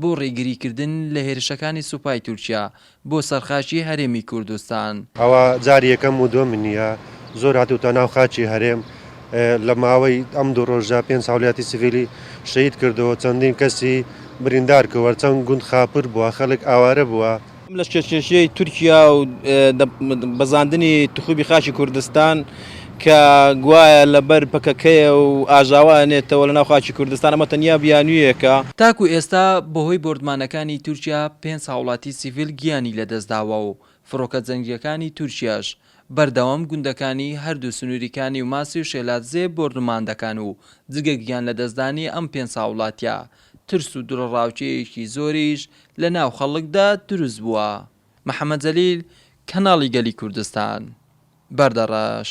بۆ ڕێگریکردن لە هێرشەکانی سوپای تورکیا بۆ سەر خاکی هەرێمی کوردستان. ئەوە جاری یەکەم و دووەم نییە، زۆر هاتووتە ناو خاکی هەرێم، لە ماوەی ئەم دوو ڕۆژە پێنج هاوڵاتی سڤیلی شەهید کردەوە، چەندین کەسی بریندار کردوە، چەند گوند خاپوور بووە، خەڵک ئاوارە بووە، ئەم لەشکرکێشیەی تورکیا و بەزاندنی تخوبی خاکی کوردستان کە گوایە لەبەر پەکەکەیە و ئاژاوە ئەنێتەوە لەناو خاکی کوردستان، ئەمە تەنیا بیانویەکە. تاکو ئێستا بەهۆی بۆردمانەکانی تورکیا پێنج هاوڵاتی سیڤیل گیانی لەدەستداوە و فڕۆکە جەنگییەکانی تورکیاش بەردەوام گوندەکانی هەردوو سنوری کانی و ماسی و شێلادزێ بۆردومان دەکەن و جگە گیانلەدەستدانی ئەم پێنج هاوڵاتیە ترس و دڵەڕاوکێیەکی زۆریش لە ناو خەڵکدا دروست بووە. محەمەد جەلیل، کەناڵی گەلی کوردستان، بەردەڕەش.